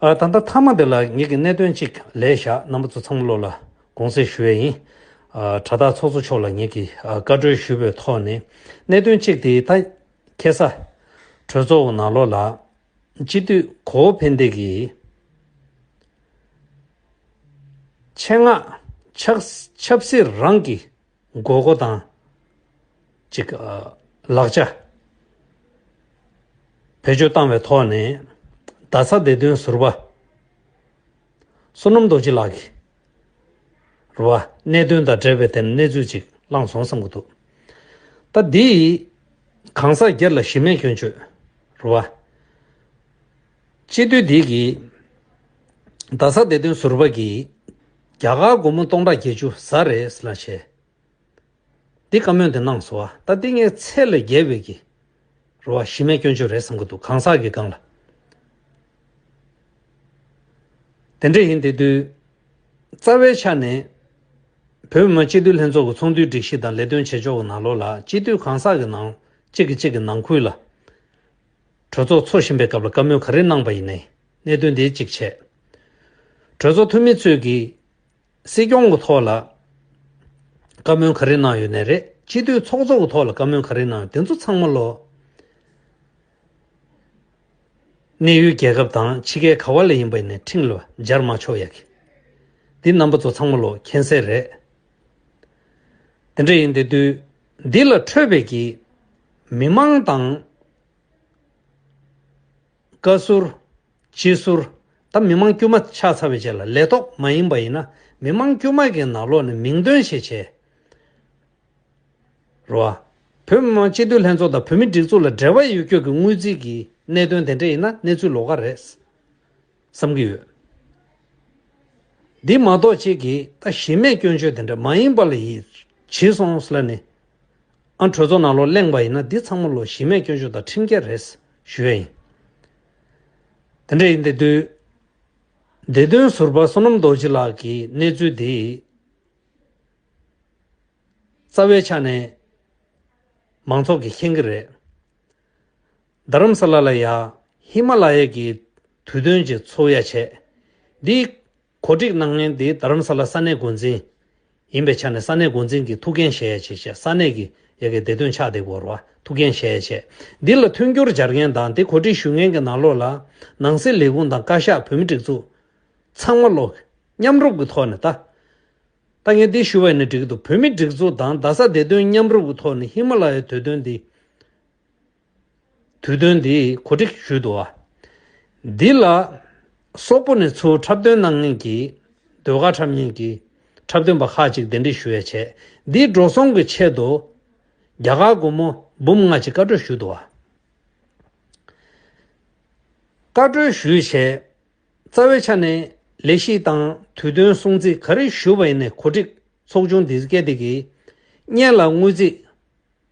ཨ། ད་ལྟ་མཐའ་མ་འདི་ལ་ངེད་ཀྱིས་གནད་དོན་གཅིག་ལས་བཞག་རྣམ་པ་ཚོ་ཚང་མ་བློ་ལ་དགོངས་སེལ་ཞུ་ཡས་ཡིན། དྲ་བདག་ཚོགས་གཙོ་མཆོག་ལ་ངེད་ཀྱིས་བཀའ་བཀྲོལ་ཞུས་པའི་ཐོག་ནས་གནད་དོན་གཅིག་དེའི་ཐ་ཁེ་ས་གྲོས་གཙོ་བོ་ནག་ལོ་ལགས་སྤྱི་འཐུས་གོ་བོ་ཕན་བདེ་གིས་ཆེད་མངགས་ཆབ་སྲིད་རང་གི་དགོས་མཁོ་དང། གཅིག་ལག་ཆ་བེད་སྤྱོད་བཏང་བའི་ཐོག་ནས་རྡ་ས་བདེ་དོན་ཟུར་པ་བསོད་ནམས་རྡོ་རྗེ་ལགས་ཀྱིས་རུ་བ་གནད་དོན་དང་འབྲེལ་བའི་ཐད་གནས་ཚུལ་གཅིག་བླངས་སོང་བསམ་གྱི་འདུག་ད་འདིས་གང་ཟག་སྒེར་ལ་གཞི་མེད་སྐྱོན་བརྗོད་རུ་བ། སྤྱི་འཐུས་བདེ་སྐྱིད། རྡ་ས་བདེ་དོན་ཟུར་པ་གྱིས། རྒྱ་གར་སྒོར་མོ་སྟོང་ཕྲག་བརྒྱད་ཅུ་ཟ་རེད་ལ་བྱས། འདི་བཀའ་མོལ་དེ་གནང་སོ་ཨ། ད་ཏིང་ངེ་ཚེ་ལ་རྒྱལ་བོད་ཀྱི། རུ་བ་གཞི་མེད་སྐྱོན་བརྗོད་རེད་བསམ་གྱི་འདུག་གང་ཟག་གི་སྒང་ལ། དེ་འདྲ་ཡིན་དེ་དུས། རྩ་བའི་ཆ་ནས། བོད་མི་མང་སྤྱི་འཐུས་ལྷན་ཚོགས་ཀྱི་ཚོགས་འདུའི་སྒྲིག་གཞི་དང་ལས་དོན་བྱེད་ཕྱོགས་ཀྱི་ནང་ལོགས་ལ་སྤྱི་འཐུས་གང་ཟག་གི་ནང་གཅིག་གིས་གཅིག་གི་ནང་ཁུལ་ལ། གྲོས་ཚོགས་འཚོགས་བཞིན་པའི་སྐབས་ལ་བཀའ་མོལ་ག་རེ་གནང་བ་ཡིན་ནའི་གནད་དོན་དེའི་གཅིག་བྱས། གྲོས་ཚོགས་འཐུས་མི་ཚོས་ཀྱིས་སྲིད་སྐྱོང་གི་ཐོག་ལ་བཀའ་མོལ་ག་རེ་གནང་ཡོད་ནའི་རེད་སྤྱི་འཐུས་ཚོགས་གཙོ་གི་ཐོག་ལ་བཀའ་མོལ་ག་རེ་གནང་ཡོད་དེ་ཚོ་ཚང་མ་ལོ། གནས་ཡུལ་རྒྱལ་ཁབ་དང་ཕྱི་རྒྱལ་ག་བ་ལ་ཡིན་པ་ཡིན་ནའི་ཁྲིམས་ལ་སྦྱར་མ་ཆོག་ཡག་གི། འདི་རྣམ་པ་ཚོ་ཚང་མ་ལོ་མཁྱེན་གསལ་རེད། དེ་འདྲ་ཡིན་དེ་དུས། འདི་ལ་འཕྲོས་བོད་ཀྱི་མི་མང་དང། བཀའ་ཟུར། སྤྱི་ཟུར། དང་མི་མང་དཀྱུས་མ་ཆགས་ཚར་བའི་རྗེས་ལ་ལས་ཐོག་མ་ཡིན་པ་ཡིན་ན་མི་མང་དཀྱུས་མ་གི་ནང་ལོག་ནས་མིང་འདོན་ཞིག་བྱེད་རོགས། བོད་མི་མང་སྤྱི་འཐུས་ལྷན་ཚོགས་དང་བོད་མི་སྒྲིག་འཛུགས་ལ་འབྲེལ་བ་ཡོད་ཁྱོད་ཀྱི་དངུལ་རྩིས་ཀྱི་གནད་དོན་དེ་འདྲ་ཡིན་ན་གནས་ཚུལ་ལོག་ཀ་རེད། བསམ་གྱི་ཡོད། འདི་མ་གཏོགས་ཁྱེད་ཀྱིས་ད་གཞི་མེད་སྐྱོན་བརྗོད་དེ་འདྲ་མ་ཡིན་པ་ལ་ཡིད་ཆེས་སོང་ལ་ནི། ཨ་གྲོས་ཚོ་ནང་ལོག་གླེང་བ་ཡིན་ན་འདི་ཚང་མ་ལོ་གཞི་མེད་སྐྱོན་བརྗོད་དང་ཁྲིམས་འགལ་རེད་ཞུ་ཡ་ཡིན། དེ་འདྲ་ཡིན་དེ་དུས། བདེ་དོན་ཟུར་པ་བསོད་ནམས་རྡོ་རྗེ་ལགས་ཀྱིས་གནས་ཚུལ་འདི། རྩ་བའི་ཆ་ནས་མང་ཚོགས་ཀྱིས་མཁྱེན་གྱི་རེད། རྡ་རམ་ས་ལ་ལ་ཡ། ཧི་མ་ལ་ཡ་གྱི། དུས་སྟོན་གྱི་ཚོགས་ཡ་བྱས། འདིའི། གོ་སྒྲིག་གནང་མཁན་དེ་རྡ་རམ་ས་ལ་ས་གནས་འགོ་འཛིན། ཡིན་པའི་ཆ་ནས་ས་གནས་འགོ་འཛིན་གྱི་ཐུགས་འགན་བཞེས་ཡ་བྱས་བྱས་ས་གནས་ཀྱི་ཡ་གྱི་བདེ་དོན་ཕྱག་དེ་བོར་བ་ཐུགས་འགན་བཞེས་ཡ་བྱས། འདི་ལ་མཐུན་འགྱུར་སྦྱར་མཁན་དང་དེ་གོ་སྒྲིག་ཞུ་མཁན་གྱི་ནང་ལོགས་ལ། ནང་སྲིད་ལས་ཁུངས་དང་བཀའ་ཤག་བོད་མི་སྒྲིག་འཛུགས། ཚང་མ་ལོགས། མཉམ་རུབ་ཀྱི་ཐོག་ནས་ལྟ། ལྟ་མཁན་དེ་ཞུ་བ་ནི་འགྲིག་འདུག་བོད་མི་སྒྲིག་འཛུགས་དང་རྡ་ས་བདེ་དོན་མཉམ་རུབ་ཀྱི་ཐོག་ནས་ཧི་མ་ལ་ཡའི་དུས་སྟོན་འདི། དུས་སྟོན་འདིའི་གོ་སྒྲིག་ཞུས་འདུག་འདི་ལ་སོག་པོ་ནས་ཚུར་འཁྲབ་སྟོན་གནང་མཁན་གྱི་ཟློས་གར་འཁྲབ་མཁན་གྱི་འཁྲབ་སྟོན་པ་ཁག་ཅིག་གདན་འདྲེན་ཞུ་ཡ་བྱས་འདིའི་འགྲོ་སོང་གི་ཆེད་དུ་རྒྱ་གར་སྒོར་མོ་འབུམ་ལྔ་ཅིག་བཀའ་གྲོས་ཞུས་འདུག་བཀའ་གྲོས་ཞུས་བྱས་རྩ་བའི་ཆ་ནས་ལས་གཞི་དང་དུས་སྟོན་སྲུང་བརྩི་ག་རེ་ཞུ་བ་ཡིན་ནས་གོ་སྒྲིག་ཚོགས་ཆུང་འདི་སྐད་དེ་གིས་བརྙན་ལ་དངུལ་རྩིས།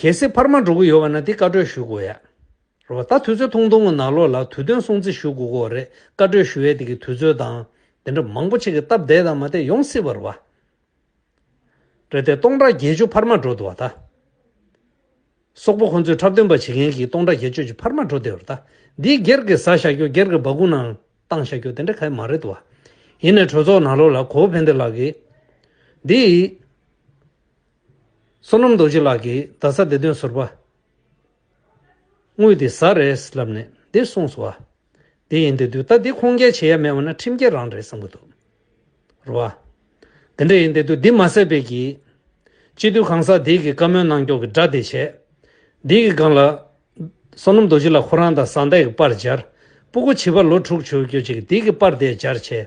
གལ་སྲིད་འཕར་མ་འགྲོ་གི་ཡོད་པ་ན་དེ་བཀའ་གྲོས་ཞུ་དགོས་ཡ་རེད་བ་ད་དུས་ཚོད་ཐུང་ཐུང་གི་ནང་ལོག་ལ་དུས་སྟོན་སྲུང་བརྩི་ཞུ་དགོས་གོ་རེད་བཀའ་གྲོས་ཞུ་ཡའི་དེ་གི་དུས་ཚོད་དང་དེ་འདྲ་མང་པོ་ཆེ་གི་སྟབས་བདེ་དང་མ་བདེ་ཡོང་སྲིད་བ་རེད་བ། རེད་དེ་སྟོང་ཕྲག་བརྒྱད་ཅུ་འཕར་མ་འགྲོ་འདུག་བ་ད། སོག་པོ་ཁོང་ཚོས་འཁྲབ་སྟོན་པ་བྱེད་མཁན་གི་སྟོང་ཕྲག་བརྒྱད་ཅུ་ཅིག་འཕར་མ་འགྲོ་བསྡད་བ་ད་འདིའི་སྒེར་གི་བཟའ་བཞག་རྒྱུ་སྒེར་གི་སྦ་གུ་ནང་བཏང་བཞག་རྒྱུ་དེ་འདྲ་ག་མ་རེད་བ། ཡིན་ནས་གྲོས་ཚོགས་ནང་ལོག་ལ་གོ་བོ་ཕན་བདེ་ལགས་ཀྱིས་འདི། བསོད་ནམས་རྡོ་རྗེ་ལགས་ཀྱིས་རྡ་ས་བདེ་དོན་ཟུར་པ་དངུལ་དེ་ཟ་རེད་ལབ་ནས་འདི་གསུངས་སོ། བདེ་ཡིན་འདོད་དུས་ད་འདི་ཁུངས་སྐྱེལ་བྱེད་ཡ་མེད་བ་ན་ཁྲིམས་འགལ་རང་རེད་བསམ་གྱི་འདུག་རོ། འདི་འདྲ་ཡིན་འདོད་དུས་འདི་མ་ཟེར་བས་ཀྱི། སྤྱི་འཐུས་གང་ཟག་འདི་གི་བཀའ་མོལ་གནང་སྐྱོང་གི་སྒྲ་དེ་བྱས། འདི་གི་སྒང་ལ། བསོད་ནམས་རྡོ་རྗེ་ལགས་ཁོ་རང་དང་བཟང་ལྟས་ཀྱི་པར་སྦྱར། སྤུ་གུ་བྱིས་པ་ལོ་དྲུག་ཆུ་བོ་སྐྱོད་བྱེད་ཀྱི་འདི་གི་པར་དེ་སྦྱར་བྱས།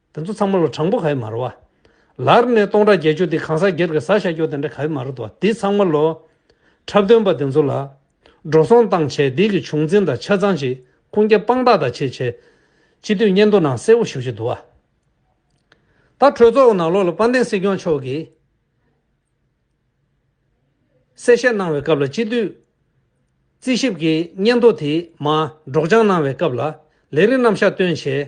དེ་ཚོ་ཚང་མ་ལོ་གྲངས་པོ་ག་ཡི་མ་རུ་བ། ལར་ནས་སྟོང་ཕྲག་བརྒྱད་ཅུ་དེ་གང་ཟག་སྒེར་གི་བཟའ་བྱ་རྒྱུ་དེ་འདྲ་ག་ཡི་མ་རུ་འདུག་དེ་ཚང་མ་ལོ། འཁྲབ་སྟོན་པ་དེ་ཚོ་ལ། འགྲོ་སོང་བཏང་བྱས་དེ་གི་བྱུང་འཛིན་དང་ཆ་ཚང་ཅི། ཁུངས་སྐྱེལ་དཔང་རྟགས་དང་ཆེད་བྱས། སྤྱི་འཐུས་སྙན་ཐོ་ནང་གསལ་བོ་ཞུ་བཞིན་འདུག་བ། ད་གྲོས་ཚོགས་ནང་ལོག་ལ་དཔལ་ལྡན་སྲིད་སྐྱོང་མཆོག་གིས། གསལ་བཤད་གནང་བའི་སྐབས་ལ་སྤྱི་འཐུས། རྩིས་ཞིབ་ཀྱིས་སྙན་ཐོ་དེ་མ་སྒྲོགས་སྦྱང་གནང་བའི་སྐབས་ལ། ལས་རིགས་རྣམ་གཞག་སྟོན་བྱས།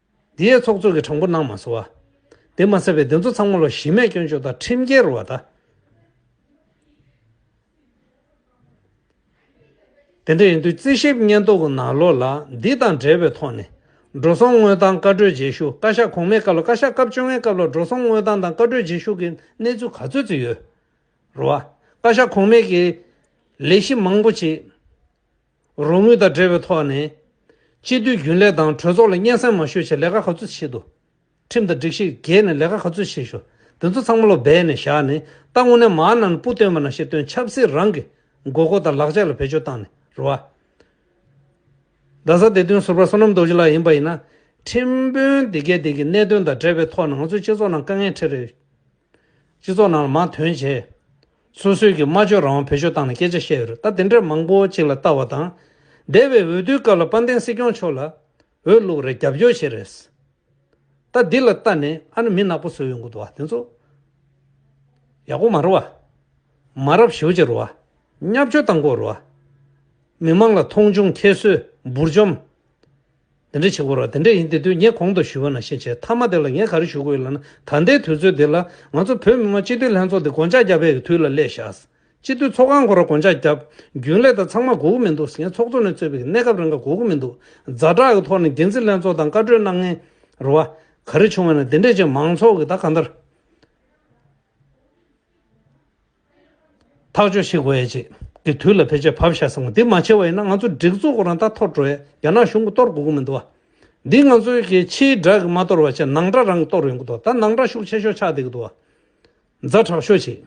འདི་ཡའི་ཚོགས་གཙོས་ཀྱི་གྲངས་འབོར་གནང་མ་ཟོ་བ། དེ་མ་ཟད་པའི་འདི་ཚོ་ཚང་མ་ལོ་བཞི་མས་སྐྱོན་བརྗོད་དང་ཁྲིམས་འགལ་རུ་བ་དང། དེ་འདྲ་ཡིན་དུས་རྩིས་ཞིབ་སྙན་ཐོ་གི་ནང་ལོ་ལ་འདི་དང་འབྲེལ་བའི་ཐོག་ནས། འགྲོ་སོང་དངོས་དང་བཀའ་གྲོས་རྗེས་ཤུགས་བཀའ་ཤག་གོང་མའི་སྐབས་ལ་བཀའ་ཤག་སྐབས་བཅོ་ལྔའི་སྐབས་ལ་འགྲོ་སོང་དངོས་དང་དང་བཀའ་གྲོས་རྗེས་ཤུགས་ཀྱི་གནས་ཚུལ་ག་ཚོད་ཅིག་ཡོད་རུ་བ། བཀའ་ཤག་གོང་མས་ཀྱི་ལས་གཞི་མང་པོ་ཅིག། རོགས་དངུལ་དང་འབྲེལ་བའི་ཐོག་ནས། སྤྱི་འཐུས་རྒྱུན་ལས་དང་གྲོས་ཚོགས་ལ་སྙན་གསན་མ་ཞུས་ཆེད་ལས་ཀ་ག་ཚོད་བྱེད་དུ། ཁྲིམས་དང་སྒྲིག་གཞི་བརྒལ་ནས་ལས་ཀ་ག་ཚོད་བྱེད་ཞུ། དེ་ཚོ་ཚང་མ་ལོ་སྦས་ནས་བཞག་ནས་ད་དངོས་གནས་མ་ནན་པུ་སྟོན་པ་ན་ཞེས་སྟོན་ཆབ་སྲིད་རང་གི་དགོས་མཁོ་དང་ལག་ཆ་ལ་བེད་སྤྱོད་བཏང་ནས་རུ་བ། རྡ་ས་སྡེ་དོན་ཟུར་པ་བསོད་ནམས་རྡོ་རྗེ་ལགས་ཡིན་པ་ཡིན་ན། ཁྲིམས་དཔོན་འདི་གས་དེ་གི་གནད་དོན་དང་འབྲེལ་བའི་ཐོག་ནས་ང་ཚོའི་སྤྱི་ཚོགས་ནང་དཀའ་ངལ་འཕྲད་རེད། སྤྱི་ཚོགས་ནང་ལ་མ་དོན་བྱས། སོ་སོའི་གི་སྨྲ་བརྗོད་རང་དབང་བེད་སྤྱོད་བཏང་ནས་སྐད་ཆ་བཤད་ཡོད་རེད་ད་དེ་འདྲས་མང་པོ་གཅིག་ལ་ལྟ་བ་དང། འདས་པའི་འོས་བསྡུའི་སྐབས་ལ་དཔལ་ལྡན་སྲིད་སྐྱོང་མཆོག་ལ། འོས་བླུགས་རེད་རྒྱབ་སྐྱོར་བྱེད་རེད། ད་འདི་ལ་ལྟ་ནས་ཨ་ནི་མི་ནག་པོ་ཟོས་ཡོང་གི་འདུག་བ་དེ་ཚོ། ཡག་པོ་མ་རུ་བ། མ་རབས་ཞེའུ་ཅི་རུ་བ། གཉའ་བཅོ་དང་གོ་རུ་བ། མི་མང་ལ་མཐོང་ཆུང་ཁྱད་གསོད་འབུར་འཇོམས། དེ་འདྲ་བྱེད་དགོས་རོགས་དེ་འདྲ་ཡིན་དེ་དུས་ངས་གོང་དུ་ཞུས་པ་ན་ཤེས་བྱས་མཐའ་མ་དེ་ལ་ངས་ག་རེ་ཞུ་དགོས་ཡོད་ལབ་ན་ད་ལྟའི་དུས་ཚོད་འདི་ལ་ང་ཚོ་བོད་མི་མང་སྤྱི་འཐུས་ལྷན་ཚོགས་འདི་དགོངས་འཇགས་བརྒྱབ་པའི་དུས་ལ་སླེབས་བཞག་སྤྱི་འཐུས་ཚོགས་ཁང་གོ་ར་དགོངས་འཇགས་བརྒྱབ་རྒྱུན་ལས་དང་ཚང་མ་སྒུག་གི་མི་འདུག་ངས་ཚོགས་གཙོ་ནས་གཙོས་པའི་གནས་སྐབས་རེ་འགའ་སྒུག་གི་མི་འདུག་རྫ་དྲག་གི་ཐོག་ནས་འགན་འཛིན་ལྷན་ཚོགས་དང་བཀའ་འཁྲོལ་གནང་ངེས་རེད་བ། ག་རེ་བྱུང་བ་ན་དེ་འདྲས་བྱས་མང་ཚོགས་ཀྱིས་ད་ག་འདྲ། ཐག་གཅོད་བྱེད་དགོས་ཡ་རྗེས་ཀྱི་དུས་ལ་བེད་སྤྱོད་བབ་བཞག་བསམ་གོ་འདི་མ་བྱས་བ་ཡིན་ན་ང་ཚོ་སྒྲིག་འཛུགས་སྐོར་རང་ད་ཐོར་འགྲོ་ཡ་རྒྱ་ནག་གཞུང་གི་གཏོར་དགོས་ཀྱི་མི་འདུག་བ། འདི་ང་ཚོའི་གི་ཕྱིའི་སྒྲག་གི་མ་གཏོར་བ་ཆེ་ནང་སྒྲག་རང་གི་གཏོར་ཡོང་གི་འདུག་ད་ནང་སྒྲག་ཤུགས་ཆེ་ཤོས་ཆགས་བསྡད་ཀྱི་འདུག་བ། མཛའ་དྲག་ཤོས་བྱེད་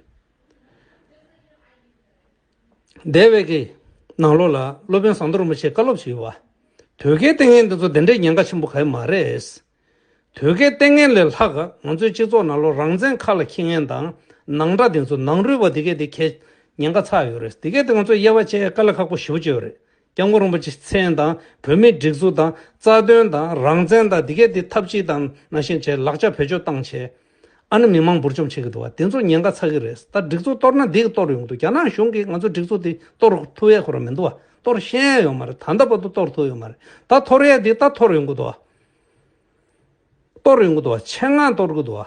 བསྡད་བས་ཀྱི་ནང་ལོག་ལ་སློབ་དཔོན་ཟངས་མདོག་རིན་པོ་ཆེས་བཀའ་སློབ་བྱས་ཡོད་བ། དོལ་རྒྱལ་ལྟས་ངན་འདི་ཚོ་དེ་འདྲའི་ཉེན་ཁ་ཆེན་པོ་ག་ཡི་མ་རེད། དོལ་རྒྱལ་ལྟས་ངན་ལས་ལྷག་ག་ང་ཚོའི་སྤྱི་ཚོགས་ནང་ལོ་རང་བཙན་མཁའ་ལ་འཁྱིལ་ངན་དང་ནང་དགྲ་དེ་ཚོ་ནང་རུལ་བ་དེ་གས་དེ་གས་ཉེན་ཁ་ཚ་ཡོད་རེད་དེ་གས་དེ་ང་ཚོ་དབྱེ་བ་ཕྱེ་དཀའ་ལས་ཁག་པོ་ཞུ་བ་བཅོས་རེད་སྐྱབས་མགོན་རིན་པོ་ཆེ་མཚན་དང་བོད་མིའི་སྒྲིག་འཛུགས་དང་རྩ་དོན་དང་རང་བཙན་དང་དེ་གས་དེ་ཐབས་ཅི་དང་ནང་བཞིན་བྱས་ལག་ཆ་བེད་སྤྱོད་བཏང་བྱས་ཨ་ནི་མི་མང་འབུར་འཇོམས་བྱེད་གི་འདུག་བ་དེ་ཚོ་ཉེན་ཁ་ཚ་གི་རེད་ད་སྒྲིག་འཛུགས་གཏོར་ན་འདི་གི་གཏོར་ཡོང་གི་འདུག་རྒྱ་ནག་གཞུང་གིས་ང་ཚོ་སྒྲིག་འཛུགས་དེ་གཏོར་ཐུབ་ཡས་ཁོ་ར་མི་འདུག་བ་གཏོར་ཤེས་ཡས་ཡོད་མ་རེད་ད་ལྟ་བར་དུ་གཏོར་ཐུབ་ཡོད་མ་རེད་ད་འཐོར་ཡས་དེ་ད་འཐོར་ཡོང་གི་འདུག་བ། གཏོར་ཡོང་གི་འདུག་བ་ཆེད་མངགས་གཏོར་གི་འདུག་བ།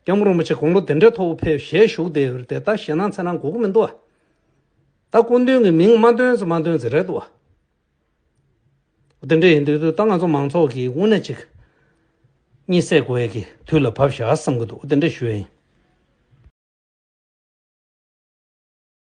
རྒྱ་མོ་རོ་མོ་ཆེ་དགུང་ལོ་དེ་འདྲའི་ཐོག་བུ་ཕེབས་ཞེས་བཞུགས་དེ་འོད་དེ་ད་ཞེད་སྣང་ཚེ་སྣང་གོ་གི་མི་འདུག་བ། ད་སྐུ་མདུན་གྱི་མིང་མ་འདོན་ཚེ་མ་འདོན་ཚེ་རེད་འདུག་བ། དེ་འདྲ་ཡིན་དུས་དུས་ད་ང་ཚོ་མང་ཚོགས་ཀྱིས་དབུ་ན་གཅིག། གཉིས་བསད་དགོས་ཡས་ཀྱི་དུས་ལ་བབས་ཞག་བསམ་གི་འདུག་དེ་འདྲ་ཞུ་ཡས་ཡིན།